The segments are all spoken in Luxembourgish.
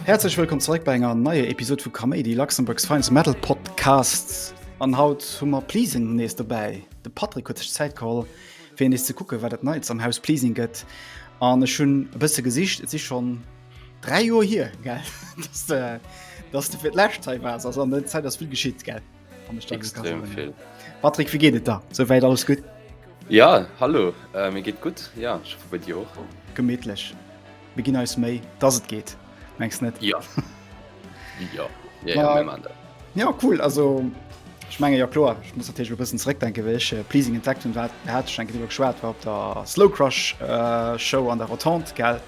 Häerzlech wëllkomm zeréck bei enger neier Episod vu Kaméidi, Luxembourg's Finest Metal Podcast. An haut hu mer Pleasing nees dobäi. De Patrick huet sech Zäit geholl, fir nees ze kucken, wat et Neits am Haus Pleasing gëtt. An ech hunn e bësse gesicht, et si schonn 3 Joer hir gell dass de dass de fir d'Lächt hei wars ass an der Zäit ass vill geschitt gell. An der Stadt Extrem Kassel. vill. Patrick, wéi geet et da? Souwäit alles gutt? Ja, hallo, äh, mir geet gutt. Ja, ich hoffe bei dir och. Gemittlech. Mir ginn eis Méi, dass et geet. Mengs net? Ja. ja. ja, ja, ja. ja cool also ich menge ja klar ich muss natürlich bisschen zurückdenken welche äh, pleasing intact und hat hat schon genug schwer war ob der slow crush äh, show an der rotant geld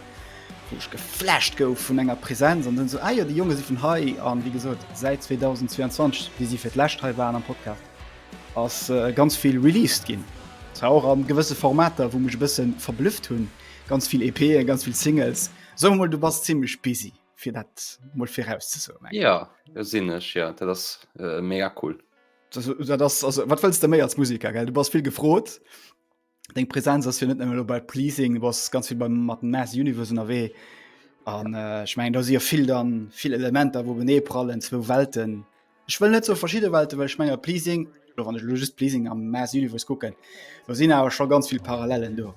wo ich geflasht go von enger präsenz und dann so ah, ja, die junge sie von high an wie gesagt seit 2022 wie sie für last waren am podcast aus äh, ganz viel released gehen auch an gewisse formate wo mich ein bisschen verblüfft hun Ganz vill EPen, ganz vill Singles. Soe mol du bass zimmlech busy fir dat mol viraus ze soen. Ja sinn ech ja, dat ass mega cool. Wat wëlls de méi als Musiker gell? Du bass vill gefrot. Deng Präsenz ass jo net nëmme lo bei Pleasing, du bass ganz vill beim mat dem Mass Universe ënnerwee. An ech mengen do si jo vill dann vill Elementer wou openeeprallen, zwou Welten. Ech wëll net so verschidde Welte wëll schmenger Pleasing lo wann ech lo just Pleasing am Mass Universe kucken. Lo sinn awer scho ganz vill Parallelen do.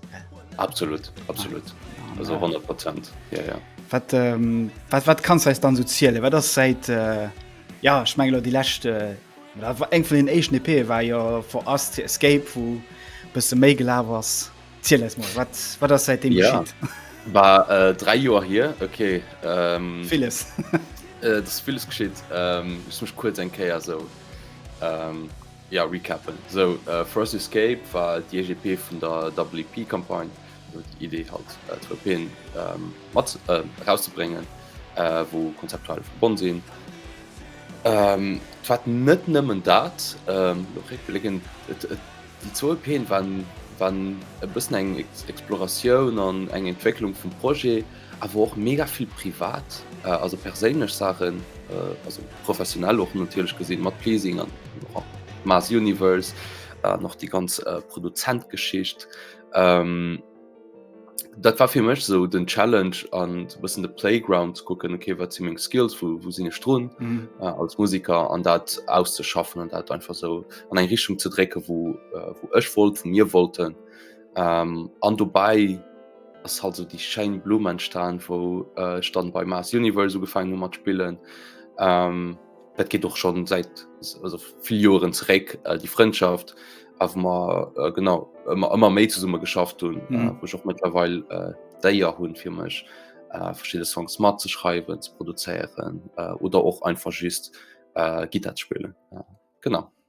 Absolut, absolut. Ah, also 100 Prozent. Ja, ja. Wat, ähm, wat, wat kannst du eis dann so zielen? Wat ass seit, äh, ja, ich meine, die letzte, äh, eng vun den echten EP war ja For Us to Escape, wo bësse méi gelaaf ass. Ziel eis mol, wat, wat ass säitdem ja. geschitt? War äh, drei Joer hier okay ähm, villes äh, das villes geschitt ähm, ich mech kurz eng Käier so ähm, ja recappen so äh, Frost Escape war die EGP vun der WP Kampagne die Idee halt äh, Tropen ähm, mat äh, rauszubringen äh, wo konzeptual verbonnen sinn ähm, wat net nëmmen dat ähm, Déi zwou EPen waren e bëssen eng Exploratioun an eng Entwécklung vum Projet, awer och mega vill privat, also perséinlech Saachen, also professionell och natierlech gesinn, mat Pleasing an och am Mass Universe an och déi ganz Produzent-Geschicht. Dat war fir mech so den Challenge an bëssen de Playground ze kucken, okay, wat si meng Skills, wo, wo sinn ech drun mhm. äh, als Musiker an dat auszeschaffen an dat einfach so an eng Richtung ze drécken, wo, äh, wo ech wollt, vu mir wollten. Ähm, an dobäi ass halt so déi schein Blumen staan, wou äh, stand bei Mars Universe ugefangen mat spillen. Ähm, Dat geet och schon seit also vill Joren zeréck äh, die Freundschaft a mer äh, genau ëmmer ëmmer méi zesumme geschafft hunn, äh, Mhm. woch och mëttlerweil äh, d'Éier hunn fir mech äh, verschidde Songs mat ze schreiwen, ze produzéieren äh, oder och einfach just äh, Gittar ze spillen. Äh, genau.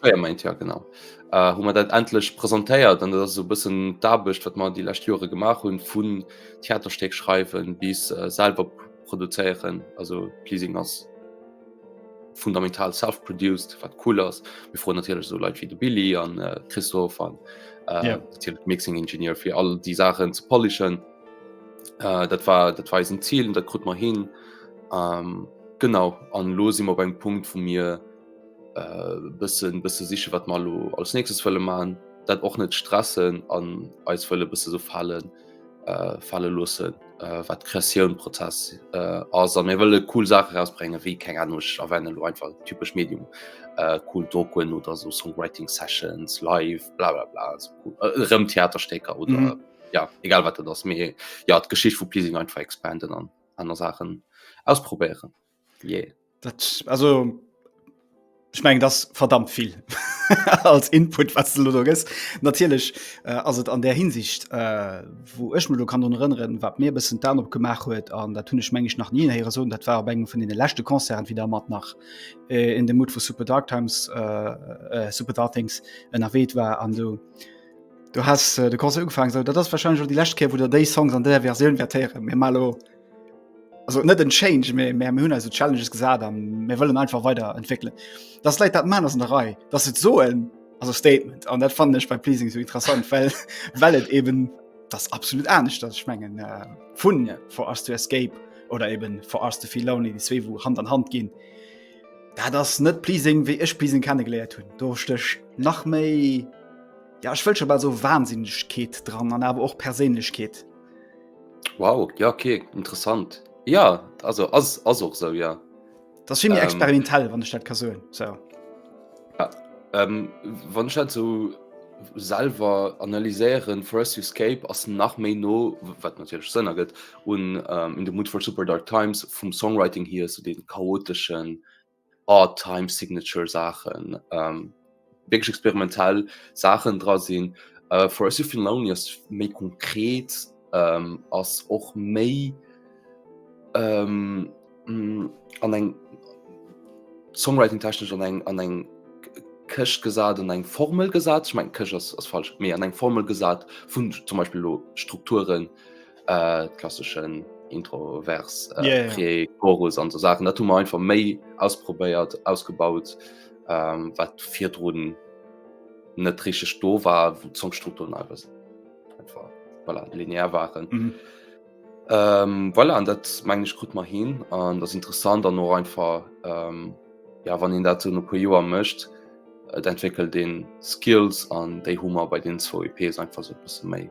Fréier meint ja genau. Äh, hu mer dat endlech presentéiert an dat ass so bëssen d'Aarbecht, wat mer déi lescht Jore gemaach hunn, vun Theaterstéck schreiwen bis äh, selber produzéieren. Also Pleasing ass fundamental self-produced, wat cool ass. Mir froen natierlech so Leit wéi de Billy an äh, Christoph an äh, Ja. natierlech Mixing Engineer fir all déi Sachen ze polischen. Äh, dat war dat war eisen Ziel, dat krut mer hin. Ähm, genau an lo si mer beim Punkt, wou mir Bëssen bësse siche wat mer lo als nächstes fëlle man, dat och net stressen an eis fëlle bësse so fallen falle losse wat Kreatioun Prozess ass a mir wëlle cool Saache rausbrenge wéi keng Ahnung erwäne lo einfach typesch Medium cool Dokoen oder so Songwriting Sessions live blablabla erëm Theaterstécker oder mm -hmm. ja egal wat dat ass mir ja d'Geschicht vu Pleasing einfach expanden an aner Saachen ausprobéieren. yeah. dat, also ich meng das verdammt viel als Input was du da gibst. Natürlich äh, also an der Hinsicht äh, wo ich mir kann erinnern, was mir bisschen dann op gemacht huet an da tun ich meng ich nach nie her so dat war engem von den letzten Konzern wieder mat nach äh, in dem Mut vu Super Dark Times äh, äh, Super Dartings en erwähnt war an du du hast äh, de Konzer ugefangen so dat das wahrscheinlich schon die letzte Kehr, wo der Day Songs an der Version vertieren mir malo. also net en Change méi mé hunn also Challenges gesat an mir wëllen einfach weiter entwickeln. Das läit dat Mann ass an der Rei, dats et so en also Statement an dat fand ech bei Pleasing so interessant, well well et eben das absolut anecht dat ech mengen äh, vun ja. for us to escape oder eben for us to feel lonely, die zwee wo Hand an Hand ginn. Da das net Pleasing wéi ech Pleasing kennengeleiert hunn. Do stech nach méi ja, ich wëll schon mal so Wahnsinnigkeet dran an awer och Perséinlechkeet. Wow, ja okay, interessant. Ja also ass ass och sou ja. Dat ass vill méi Ähm. experimentell, wann ech dat ka soen. So. Ähm, wann ich dat so selber analyséieren, Forest Escape ass nach méi no, wat natürlich Sënn ergëtt, un ähm, In the Mood for Super Dark Times vum Songwriting hier, so den chaotischen, Odd Time Signature Saachen, wierklech experimentell Saachen dra sinn. For Us You've Been Lonely ass méi konkret, ass och méi an eng Songwriting technesch an eng an eng Këscht gesat, an eng Formel gesat. Ech mengen Këscht ass falsch, mee an eng Formel gesat vun zum Beispill elo Strukturen. äh, klassischen introvers äh, yeah, yeah. chorus an so sachen dat man einfach méi ausprobéiert ausgebaut ähm, wat vier droden net trische sto war wo zum strukturen einfach voilà, linear waren mhm. ähm, voilà, an dat meng ich gut mal hin an das interessant dann nur einfach ähm, ja wann den dazu no pro joer mcht äh, entwickelt den skills an de humor bei den zwei ps einfach so bisschen méi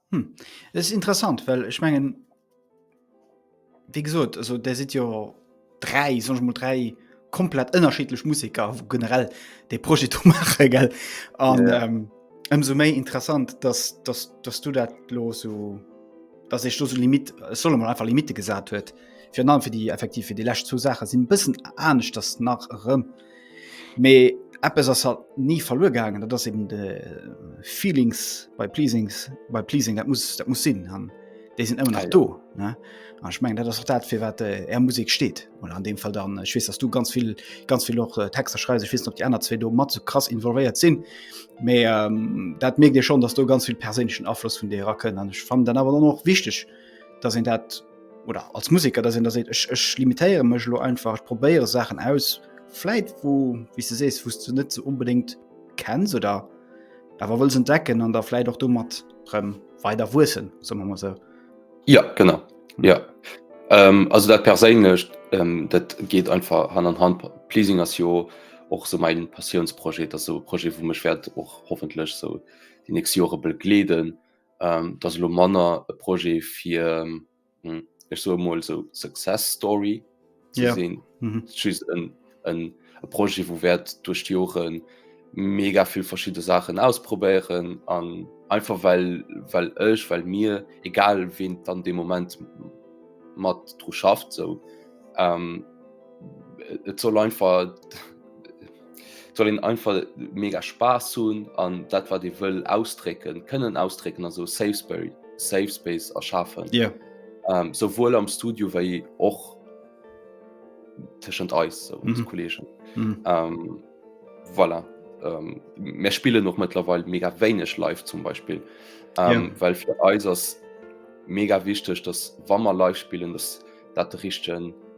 Hm. Es ist interessant, well ech mengen wéi gesot, also der sidd jo dräi soch mol dräi komplett ënnerschiedlech Musiker wo generell de Projet do maache gell an ja. ähm, ëmso méi interessant, dass, dass, dass du dat lo so dass ech do so Limit solle man einfach Limite gesat huet fir an fir déi effektiv fir déi lächt zu Saache sinn bëssen anescht dass nach erëm. Mee eppes ass halt ni verluer gaangen, dat ass eben de Feelings bei Pleasings bei Pleasing dat muss dat muss sinn an déi sinn ëmmer nach Geil. do ne? An ich meng dat ass och dat fir wat äh, Är Musik steet oder an dem Fall dann ich wees dass du ganz viel ganz viel och äh, Texter schreis ich wissen op die aner zwee do mat so krass involvéiert sinn méi ähm, dat merkt Dir schon dass du ganz viel perséinlichen Afloss vun Dir ra kënnen an ich fand dann awer dann och wichtig dass en dat oder als Musiker da sinn der seet ech ech limitéiere mech lo einfach ech probéiere Sachen aus Fläit wo wie se sees wust du net ze so unbedingt kennen se da awer wëll se decken an der Fläit och du mat rem weider wuessen so man se ja genau ja ähm, also dat perséinlecht ähm, dat geht einfach han an Hand pleasing as jo och so mein Passionsprojekt as so Projekt wo mech werd och hoffentlech so die nächste Jore begleeden Ähm, dass lo manner e Projet fir ähm, hm, ech so mal so Success Story ze yeah. sinn mhm. en, en, en Projet wo wärt durch die Joren mega viel verschiedene Sachen ausprobieren an einfach weil weil ech weil mir egal wen dann dem Moment mat dro schafft so ähm, et soll einfach soll een einfach mega Spaß hunn an dat wat dee wëll ausdrécken kënnen ausdrécken also Safesbury Safe Space erschafen Dir yeah. ähm, souwuel am Studio wei och tëschent eis so, mm -hmm. Kollegen mm -hmm. ähm, voilà. ähm, mir spielen noch mittlerweile mega wenig live zum Beispiel ähm, yeah. weil für Eis mega wichtig dass Wammer live spielen dass dat richten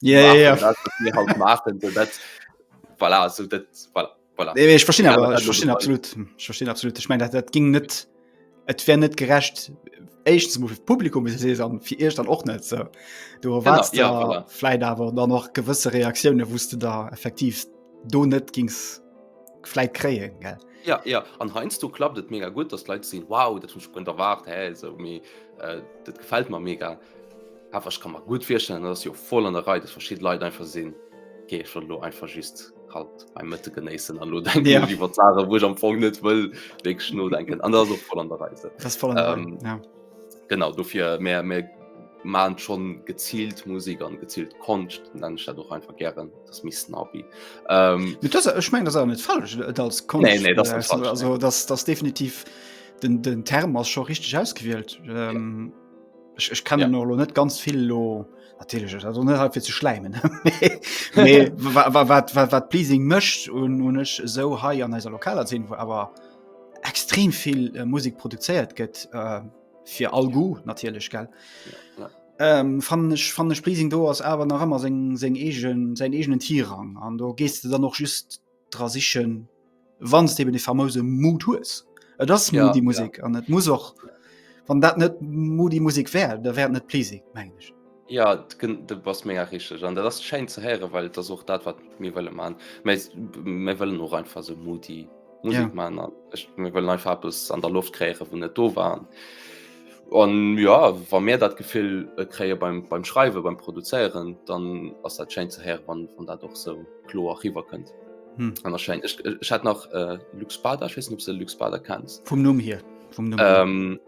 Ja, ja, ja. Dat, wat mir halt maachen, so dat, voilà, so dat, voilà, voilà. Nee, ich verstehe aber, ich verstehe absolut. Ich verstehe absolut. Ich meine, das, das ging net, et wär net gerecht, echt zum Publikum bis se an fir Icht dann och net ze. Du erwarst ja, ja, ja. Fläit awer dann noch gewësse Reaktiounen wusste da effektiv do net gings Fläit kreien gell. Ja, ja. an heinsst du klappt et mega gut, dat leit sinn wow, dat hun kun erwart hey, so, mi, äh, dat gefällt man mega. Awer ech ka mer gutt virstellen, datt ass jo voll an der Rei, datt verschidde Leit einfach sinn, geet ech elo einfach just kalt beim Mëtte genéissen an lo denken Ja. ech iwwer d'Sachen, wou ech am Fong net wëll wierklech nodenken. An dat ass och voll an der Rei esou. Das voll an der Rei, Ähm, ja. Genau, dofir mär, mär man schon geziilt Musik an geziilt Konscht, nennen ech dat och einfach gären, dat ass méi snobby. Ähm, Mit das, ech meng das awer net falsch et als Konscht, Nee, nee, das ist net falsch, also das, das definitiv den, den Term ass scho richteg ausgewielt. Ähm, Ech, ech kennen ja. lo net ganz vill lo fir ze schleimen wat Pleasing mëcht un hun ech sou hei an eiser lokaler sinn, wo awer extrem vill äh, Musik produzéiert gëtt äh, fir all Gu natierlech gell. Ja, ja. Ähm, fan ech fan ech Pleasing do ass awer nach ëmmer seng seng egen säin egenen Tierrang an do gees du dann noch just dra sichen wann de de famose Mut hues Et das ja, die Musik an ja. et muss och wann dat net mo die Musik wär der werden net please mengsch Ja de bass méger richg an der das schein ze here weil der such dat wat mir wëlle man mé wëllen noch einfach so Mutti Musik ja. man an ech mir wëllen einfach bis an der Luft kräre vun net do waren. An ja wa mir dat Gefill äh, kréie beim, beim Schreiwe, beim Produzéieren, dann ass dat schéin ze héieren, wann, wann dat och sou kloer riwwer kënnt. Hm. An der Schein. Ech, ech hat nach äh, Lux Bader, ich weiß nicht, ob du Lux Bader kennst. Vum Numm hier. Vum Numm hier. Ähm,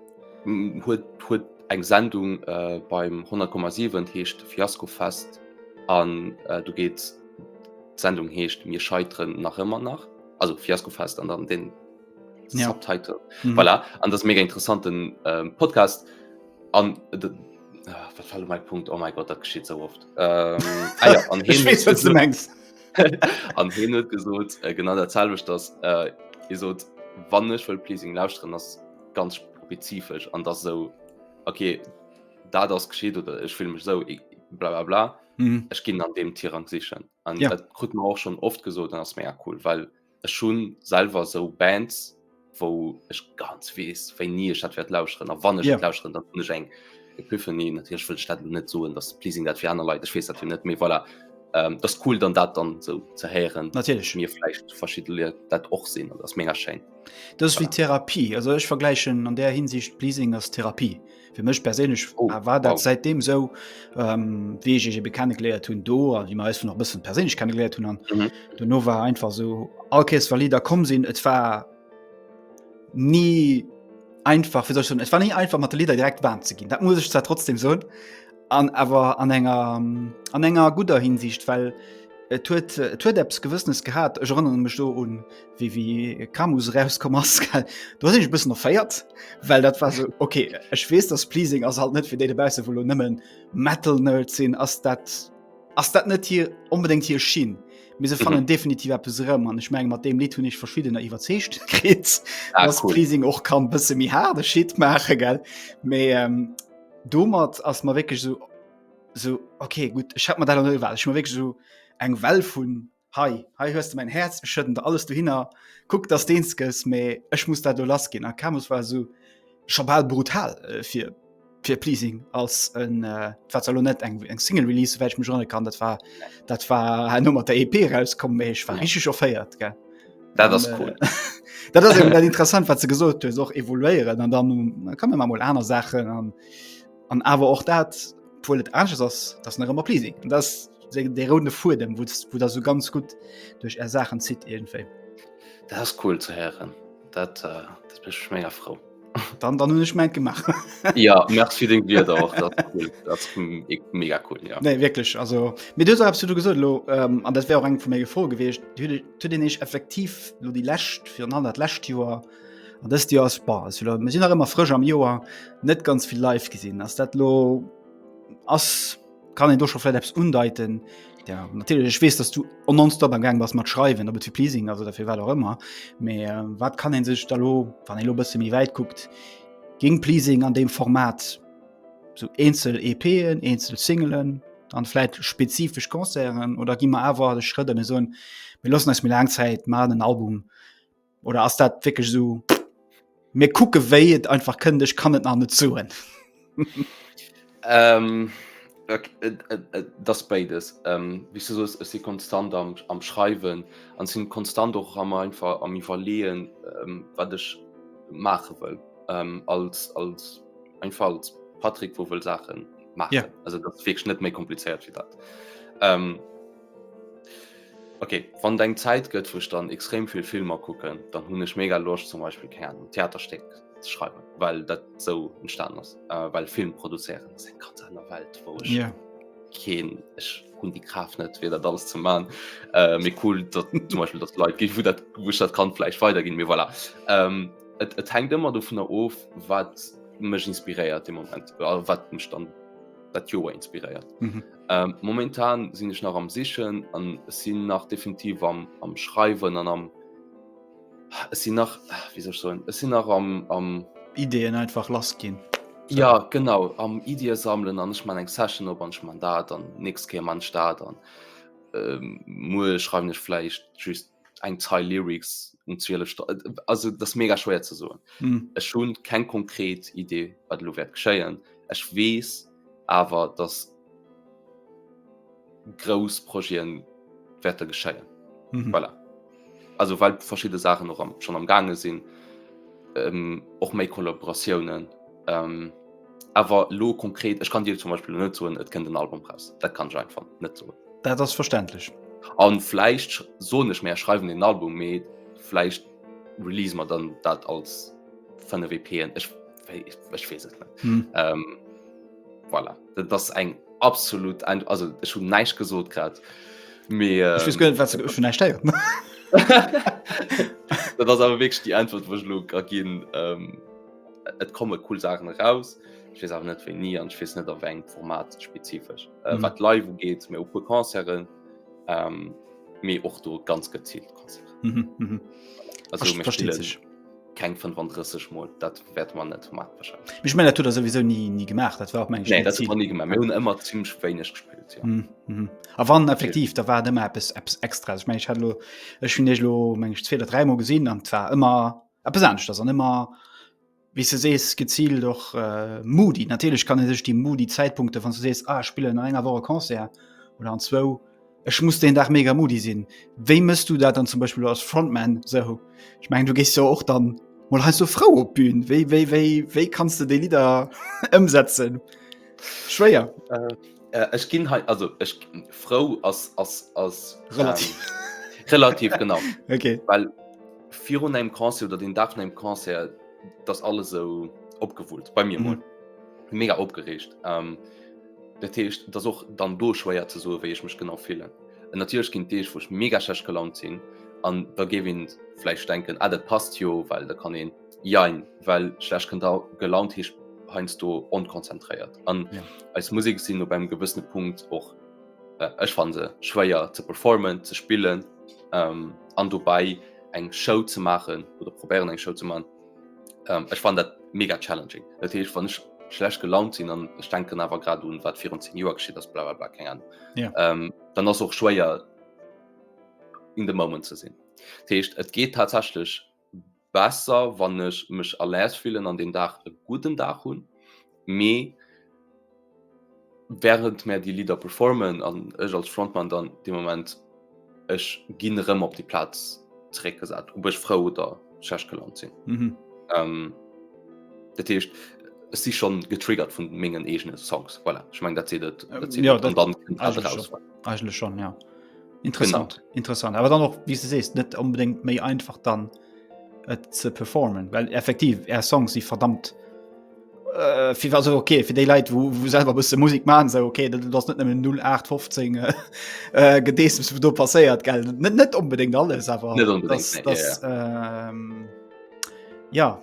huet, huet eng Sendung äh, beim 100,7 heescht Fiasko Fest an äh, du geet d'Sendung heescht mir scheiteren nach ëmmer nach also Fiasko Fest an dann den ja. Subtitle mhm. voilà. an das mega interessanten ähm, Podcast an äh, ah, mein Punkt oh mein Gott dat geschieht so oft ähm, ah, ja, an hin, weiß, an hin gesucht äh, genau der Zahl das äh, so wann ich will pleasing laus drin das ganz spezifisch an das so okay da das geschieht oder ich will mich so ich, bla bla bla mhm. ich ging an dem Tier an sich an ja. gut auch schon oft gesucht dann das mehr cool weil ich ech hun selwer sou Bands wou ech ganz wees wéi nie ech dat werd lausren a wann ech yeah. lausren dat hun ech eng Epiphany natierch wëll dat net soen dat pleasing dat fir aner Leiit wees dat fir net méi voilà ähm, das cool dann dat dann so ze heieren natierch mir flecht verschi dat och sinn an ass méger schein das voilà. wie Therapie also ech vergleichen an der hinsicht pleasing as Therapie Fir mech perséinlech oh, war dat wow. seitdem sou ähm, wéi ech ech ebe kennengeléiert hunn do an wie ma vun noch bëssen perséinlech kennengeléiert hunn an mhm. du no war einfach so Alkees war Lider kom sinn, et war nie einfach fir sech schon et war nie einfach mat de Lider direkt Bahn ze ginn. Dat muss ich zwar trotzdem soun. An awer an enger, an enger gudder Hinsicht, well et huet et huet eppes Gewëssenes gehat. Ech erënnere mech do un, wéi wéi Camus erauskomm ass. Do sinn ech e bëssen erféiert, well dat war sou, okay, ech weess, dass Pleasing ass halt net fir déi dobausse wou elo nëmmen Metal-Nerds sinn, ass dat, ass dat net hir onbedéngt hir Schinn. Mee se fannen definitiv eppes erëm an ech menge mat deem Lidd hunn ech verschiddener iwwerzeegt kritt, dass Pleasing och ka bësse méi haarde Shit maache, gell? Mee. Domat ass mer wécklech so so okay gutt ech hat mat dat well ech wé so eng Well vun hei hei hues du mein Herz schëtten der alles du hinner kuck dass deens gëss méi ech muss dat do lass ginn a Camus war so schabal brutal äh, fir fir pleasing als en äh, wat lo net eng eng Single Release wäch mech runne kann dat war dat war no mat der EP rauskom méi ech war richg offéiert ge. Dat ass cool. Äh, dat ass dat interessant wat ze gesot hues och evoluéieren an dann kann man mal aner Sachen an an awer och dat puuel et anches ass dats nach ëmmer pleasing. dat de runde fuer dem wo wo der so ganz gut duerch Är Sachen zitt egentéi. Dat ass cool ze heieren dat, äh, dat mécht mech mega frou. dann dann hun ech mein gemacht ja merci den dir da auch cool. das, hm, ich, mega cool ja nee wirklich also mit dir hast du gesund lo ähm, an das wäre auch eng von mir gefro gewesen zu den ich effektiv nur die lässt für an hat lässt jahr an das dir aus bar sind nach immer frisch am joar net ganz viel live gesehen hast dat lo as Kann een do scho vläit eppes undeiten? Ja, natierlech, ech weess, dass du on nonstop am Gang bass mat schreiwen, dat fir Pleasing, also derfir wat och ëmmer. Mee äh, wat kann een sech da lo, wann ee lo bësse méi wäit kuckt, géng Pleasing an deem Format sou eenzel EPen, eenzel Singelen, an vläit spezifesch Concerten oder gi mer awer de Schrëtt an e soen, mir loossen eis méi laang Zäit, man en Album, Oder ass dat wéckeg sou mir kucke wéi et einfach kënnt ech kann et nach net zuen? Ähm, ok, et, et, et, das beides. Ähm, wie du soos, ech si konstant am, am Schreiwen an sinn konstant och am einfach am Iwwerleeën, ähm, wat ech maache wëll ähm, als, als einfach als Patrick, wou wëll Saache maachen. Ja. Also dat ass wierklech net méi komplizéiert wéi dat. Ähm, Okay, wann deng Zäit gëtt wou ech dann extrem vill Filmer kucken, dann hunn ech mega Loscht zum Beispill Kärn um Theaterstéck ze schreiwen, well dat sou entstan ass, well Film produzéieren ass eng ganz aner Welt, wou ech yeah. keen ech hunn déi Kraaft net fir dat alles ze man. Äh, méi cool dat zum Beispiel dat Leit gi vu dat wuch dat kann fleich weider ginn mir voilà. Ähm, et, et hängt ëmmer do vun der of wat mech inspiréiert de Moment wat mech dann dat Joer inspiréiert. Mhm. Ähm, momentan sinn ech nach am Sichen an sinn nach definitiv am, am Schreiwen an am es sinn nach wie sech so es sinn nach am, am Ideenn einfach lass ginn. So. Ja genau am Idie sammeln an ech man eng Session op an man dat an ni kä man staat an ähm, Mu schreiben ech fleischicht just eng Zeil Lyrics um 12 Sto also das mega schwéier ze soen. Mm. Ech hunn keng konkret Idee wat lo wäert geschéien. Ech weess awer dass grouss Proien wäerte geschéien. Mm -hmm. voilà. Also well verschiedene Sachen noch am, schon am gange sinn ähm, och méi Kollaboratiounen Ähm, awer lo konkret ech kann dir zum Beispiel net soen et kënnt den Album raus dat kann schein van net so dat ass verständlich an fleisch so nicht mehr schreiben den Album me fleisch release man dann dat als fan der WPen ech ech wees net hm. ähm, voilà. dat das eng absolut ein also ech hun neisch gesot grad me ähm, ich gönnt, was, ich nicht steiert dat ass awer weg die antwort wo lo gin ähm, Et komme cool Sachen raus wees awer net wéi nie an schwiss net op eng Format spezifesch äh, mhm. wat live geet mir op pu Konzeren ähm, méi och do ganz gezielt Konzer mhm, mhm. keng 35 Mol dat werd man net mat Mech mé dat sowieso nie nie gemacht dat war op nee, dat nie gemacht hun immer ziemlich wéineg gespielt ja. mhm, mhm. a wann effektiv da war dem App Apps extra ich mein, ich hat lo, ich hun lo meng 2 oder 3 Mo gesinn an war immer Eppes aneschters an ëmmer, wéi s de sees, geziilt och moody. Natierlech kann ee sech déi moody Zäitpunkte, wann s du sees, ah, ech spillen an enger Woch e Concert oder an zwou, ech muss deen Dag mega moody sinn. Wéi mëss du dat dann zum Beispill als Frontman esou? Ech mengen, du gees jo och da mol heiansdo frou op d'Bün. Wéi, wéi, wéi, wéi kanns de déi Lidder ëmsetzen? Schwéier? Ech ginn hei, also ech, frou ass, ass, ass relativ, relativ, genau, well. Virun engem Concert oder den Dag vun engem Concert, da ass alles esou opgewullt, bei mir mol. Mega opgeregt. Dat heescht, et ass och dann do schwéier ze soen, wéi ech mech genau fillen. An natierlech ginn Deeg, wou ech mega schlecht gelaunt sinn an da géif een vläicht denken, ah dat passt jo, well da kann een, jein, well schlecht gelaunt heescht heiansdo onkonzentréiert. An eis Musek sinn op engem gewëssene Punkt och. Äh, ech fan se schwéier ze performen ze spillen ähm, an dobei eng Show ze machen oder probieren eng Show zu man. Ähm, ech fan dat mega challenging. Dat heißt, wann ich schlecht gelaunt sinn an ich denken awer grad un wat 14 Joer geschieet ass bla bla bla keng Ahnung. Ja. Ähm, dann ass och schwéier in the moment ze sinn. Dat heißt, et geht tatsächlich besser wann ech mech à l'aise fillen an den Dag e gudden Dag hunn, mee während mär déi Lidder performen an ech als Frontman dann dee Moment, ech ginn erëm op déi Plaz zeréck gesat, ob ech frou oder schlecht gelaunt sinn. Mhm. Dat heescht, ech si schonn getriggert vun mengen eegene Songs. Voilà, ech meng dat seet et, dat seet et. An dann kënnt dat eraus. Eigentlech schon ja. Interessant genau. interessant aber dann noch wie du sest net unbedingt méi einfach dann äh, ze performen well effektiv er Song sie verdammt äh, viel war so okay für die Leute wo, wo selber bist Musik machen so okay du hast net 0815 äh, äh gedees was du passéiert gell net net unbedingt alles aber unbedingt, das, das, ja, ja. Äh, ja.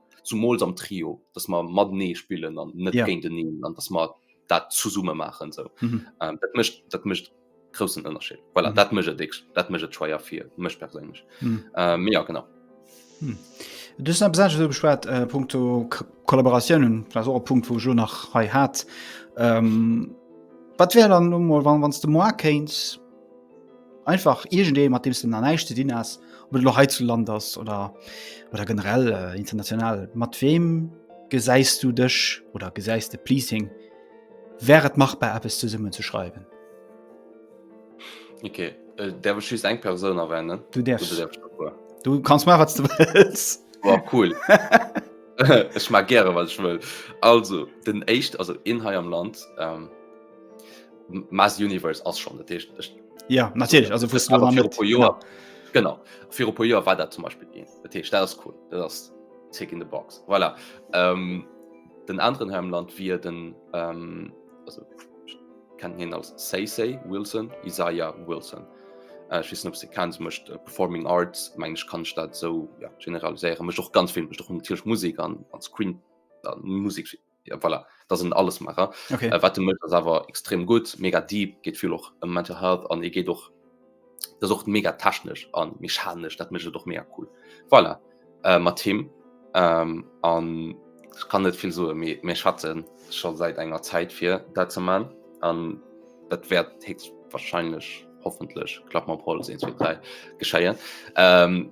zumools am Trio, dats mer matenee spillen an net yeah. géint den an dats mer dat zu summe machen so. mm -hmm. ähm, dat mecht dat mecht großen Unterschied voilà, mm -hmm. dat mecht dick dat mecht schwaier fir mech persinnch mm -hmm. ähm, ja genau. Hm. Du net besat so beschwert äh, Punkto Kollaboratiounen so Punkt wo jo nach hei hat. Ähm, wat wär dann no wann wanns du mo kéins Einfach irgendee mat deems den an näischt ze dinn ass, op et lo hei zu Land ass oder oder generell äh, international. Mat weem gesäis du dech oder gesäis de Pleasing? Wär et machbar eppes zesummen ze schreiwen? Okay, äh, derwe schüst eng Persoun erwennen. Du derfs du kannst ma wat du wëlls. War cool. Ech mag gre wat ech wëll. Also den Echt also in hei am Land. Ähm, Mass Universe ass schon Tisch, Tisch. ja natürlich also für Jahr, genau für Jahr war zum Beispiel gehen Tisch, das cool das tick in the box voilà. ähm, den anderen Hemland wie den ähm, also, kann hin als say say Wilson Isaiah Wilson äh, wissen ob sie kennt möchte äh, performing Arts mein ich kann statt so ja, generalisieren mich auch ganz viel mich doch natürlich Musik an an Screen dann Musik schicken ja, voilà, dat en alles macher okay. äh, wat mech awer extrem gut mega deep geht viel och um mental health an e geht och das och mega technesch an mechanisch dat mech doch mega cool voilà. äh, mat team ähm, an ich kann net viel so mé mé schatten schon seit enger zeit fir dat ze man an dat werd he wahrscheinlich hoffentlich klappt man pol gescheiert ähm,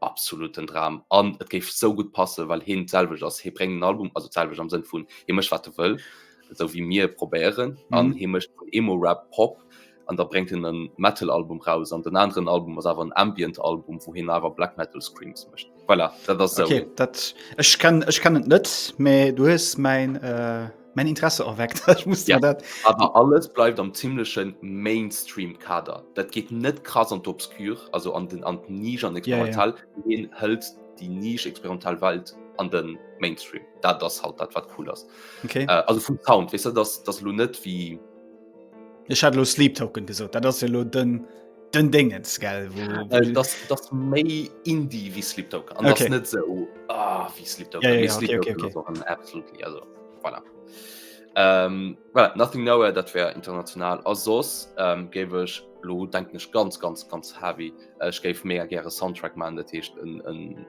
absoluten Dram an et géif sou gutt passen, well heen d'selwecht ass. Hee bréngt en Album, also d'selwecht am Sënn vun hee mécht wat e wëll, esou wéi mir e probéieren an mhm. hee mécht Emo-Rap, Pop an da bréngt en en Metal-Album raus an den aneren Album ass awer en Ambient-Album, wou heen awer Black Metal Screams mécht. Voilà, dat ass sou. Okay, dat ech kann, ech kann et net, mä du hues mäin äh mein Interesse erweckt ja, dat aber alles bleibt am ziemlichschen Mainstream Kader dat geht net krass an obscur also an den an nie an experimental ja, ja. hält die nisch experimental Welt an den Mainstream da das halt dat wat cool ist okay. äh, also vom Sound wis weißt du, das das lo net wie Ech hat lo Sleep Token gesot, dat ass jo lo den den Déngens gell äh, das, das méi Indie wie Sleep Token an okay. net se so, ah, wie Sleep Token, ja, ja, ja, Sleep okay, Token okay, okay. absolut also, voilà. ähm, voilà, nothing no dat wär international a sos ähm, géwech lo denken ech ganz ganz ganz heavy Ech géif mé gre Soundtrack man dat heescht en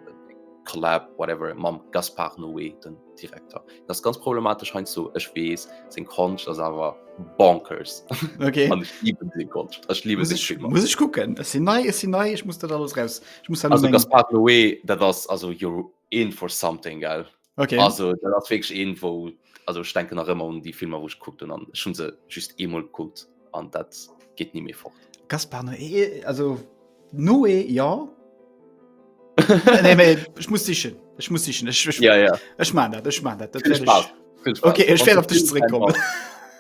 Collab whatever mam Gaspar Noé den Direkter. Dat ass ganz problematesch heiansdo, ech weess. Seng Konscht ass awer bonkers. Okay. An ech liiben seng Konscht. Ech liiben Muss seng ich, Filmer. muss ich gucken. Es sind nei, es sind nei, ich muss das alles raus. Ich muss dann Also mein, Gaspar Noé, dat ass also you're in for something, gell? Okay. Also dat ass wierklech een, wou also ech denken nach ëmmer un déi Filmer, wou ech gekuckt hunn an ech hunn se just eemol gekuckt. an dat geht nie mehr fort Gaspar Noé, eh, eh, also Noé ja nee, nee, ich muss dich ich muss dich ich, ich, ja, ja. ich mein dat, ich mein dat, dat ich, okay ich werde auf dich zurückkommen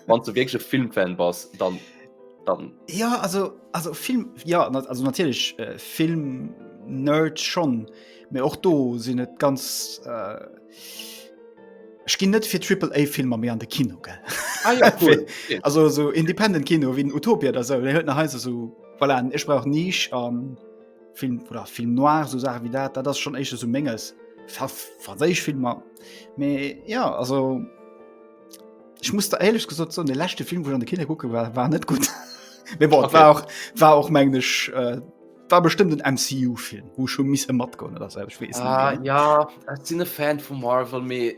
wann du wirklich Filmfan bas dann dann ja also also Film ja also natürlich äh, Film nerd schon mir auch do sind net ganz äh, Ech ginn net fir Triple A Filmer méi an de Kino gell. Ah, ja, cool. also so independent Kino wien Utopia der sou huet nach heiser so voilà, ech brauch nich an ähm, Film oder Film noir so Sache wie dat, dat ass schon éische so menges franséich Filmer. Me ja also ich muss der ehrlich gesot so de lächte Film wo an de Kinder gucke war war net gut. Bon, okay. war auch, auch mengglisch. Äh, war bestimmt den MCU Film wo schon miss mat go das selbst wissen ah, ja sind Fan von Marvel me äh,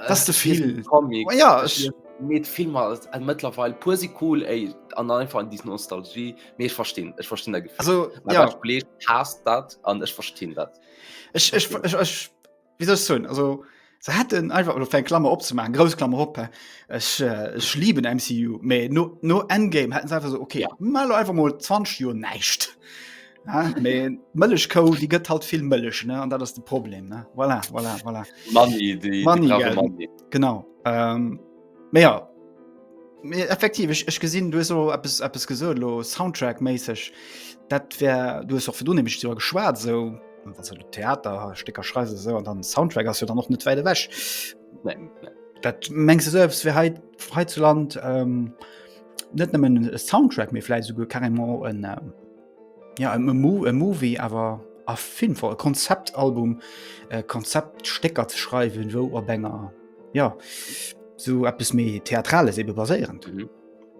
das du viel oh, ja ich, mit Film mittlerweile pur sie cool ey, an einfach an diesen Nostalgie me ich verstehen ich verstehen der Gefühl also, ja. passt dat an ich verstehen dat ich, ich, ich, ich, ich wie soll ich sagen, also se hätten einfach oder fir Klammer opzemachen grouss Klammer op ech, äh, ech lieben MCU méi no, no Endgame hätten se einfach so okay ja. mal einfach mal 20 Joer näicht Mëllech kou die gëtt halt vill Mëllech ne an dat ass de Problem ne voilà, voilà, voilà. Money, die, Money, die Money. genau. Ähm, Mee ja, mee effektiv, ech, ech gesinn, du hues elo eppes, eppes gesot elo Soundtrack-méisseg. Dat wär, du hues och virdrun nämlech driwwer geschwat, esou wat se elo Theater, Stécker schreiws esou an dann Soundtrack ass jo dann och net wäit ewech. Nee, nee. Dat mengs de sou, s wär hei, hei zu Land net nëmmen e Soundtrack, mee vläicht esouguer carrément en. Ja e Mo e Movie awer a Filmform, e Konzeptalbum, e Konzeptstécker ze schreiwen, wou op enger ja sou eppes méi Theatrales ebe baséierend. Mhm.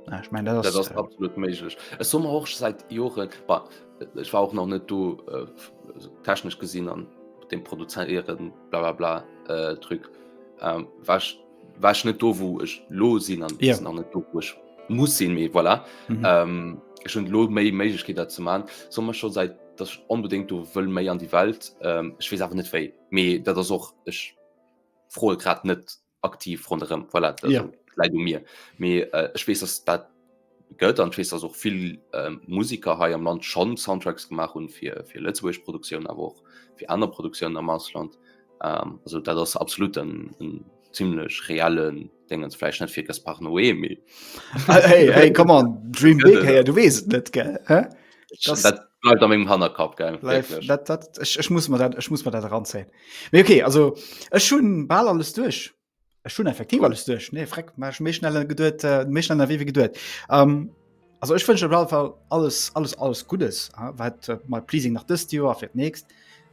Ja, ech mein dat ass. Dat ass äh, absolut méiglech. Ech soe mer och seit Joren, bah, ech war och nach net do äh, technesch gesinn an dem Produzéieren bla bla bla äh, Truc, ähm, war ech war ech net do wou ech lo sinn an yeah. an net do wo ech muss sinn méi voilà. mm -hmm. ähm, ech hun lo méi Méiglechkeet dat ze man sommer schon seit dat unbedingt du wëll méi an die Welt ähm, ich wees awer net wéi méi dat ass och ech froe grad net aktiv run voilà, yeah. Lei du mir méi äh, ech wees ass dat gëtt an wees ass och vill Musiker hei am Land schon Soundtracks gemacht hun fir fir Lëtzebuerg Produktioun awer och fir aner Produktioun am Ausland ähm, also dat ass absolut en, en ziemlichlech reellen Dengen fleich net fir Gaspar Noé mé ah, hey, hey, komm an Dream big, hey, du wees net ge bleibt am engem Hannerkap geil. Ech muss mir dat ranzäin. Mee okay, also ech hunn bal alles duerch. Ech hun effektiv alles duerch. Nee, freck, mach méi schnell geduet, äh, méi schnell erwee wie geduet. Ähm, also ech wënsche bra Fall alles alles alles Gutes, äh, wat äh, mal pleasing nach dëst Joer fir d'nächst.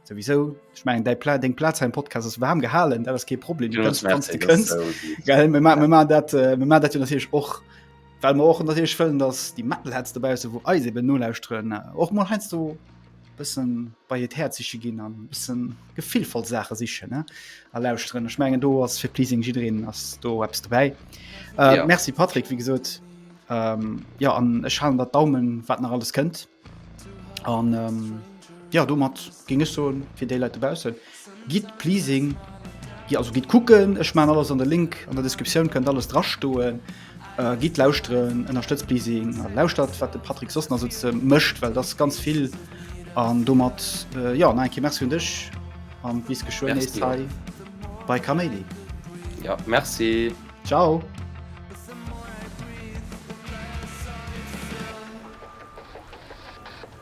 Sowieso, ich mein, dei Pla deng Platz heim Podcast ass warm gehalen, dat ass kee Problem, du kannst, kannst, du kannst. So Geil, mir ma- mir ma dat, äh, mir ma dat jo natierlech och, well mir och natierlech wëllen, dass déi Metalheads dobausse, wo eis eben nolauschteren, äh, och mal heiansdo bëssen bei hiert Häerzche ginn an bëssen gefillvoll Saache sichen, ne? A lauschteren. Ech mengen, do ass fir Pleasing jiddreen ass do eppes dobäi. Äh, Ja. Merci Patrick, wéi gesot. Ähm, ja, an ech halen dat Daumen, wat nach alles kënnt. An ähm, ja, domat géing ech soen, fir déi Leit dobaussen, Gitt pleasing, jo also gitt kucken, ech maan alles an de Link an der Descriptioun, kënnt alles dra stoen. Gitt lauschteren, ënnerstëtzt pleasing a lauschtert wat de Patrick soss nach sou mécht, well et ass ganz vill an domat jo nach eng Kéier Merci un dech an bis geschwënn nees hei bei Kaméidi. Jo Merci. Ciao.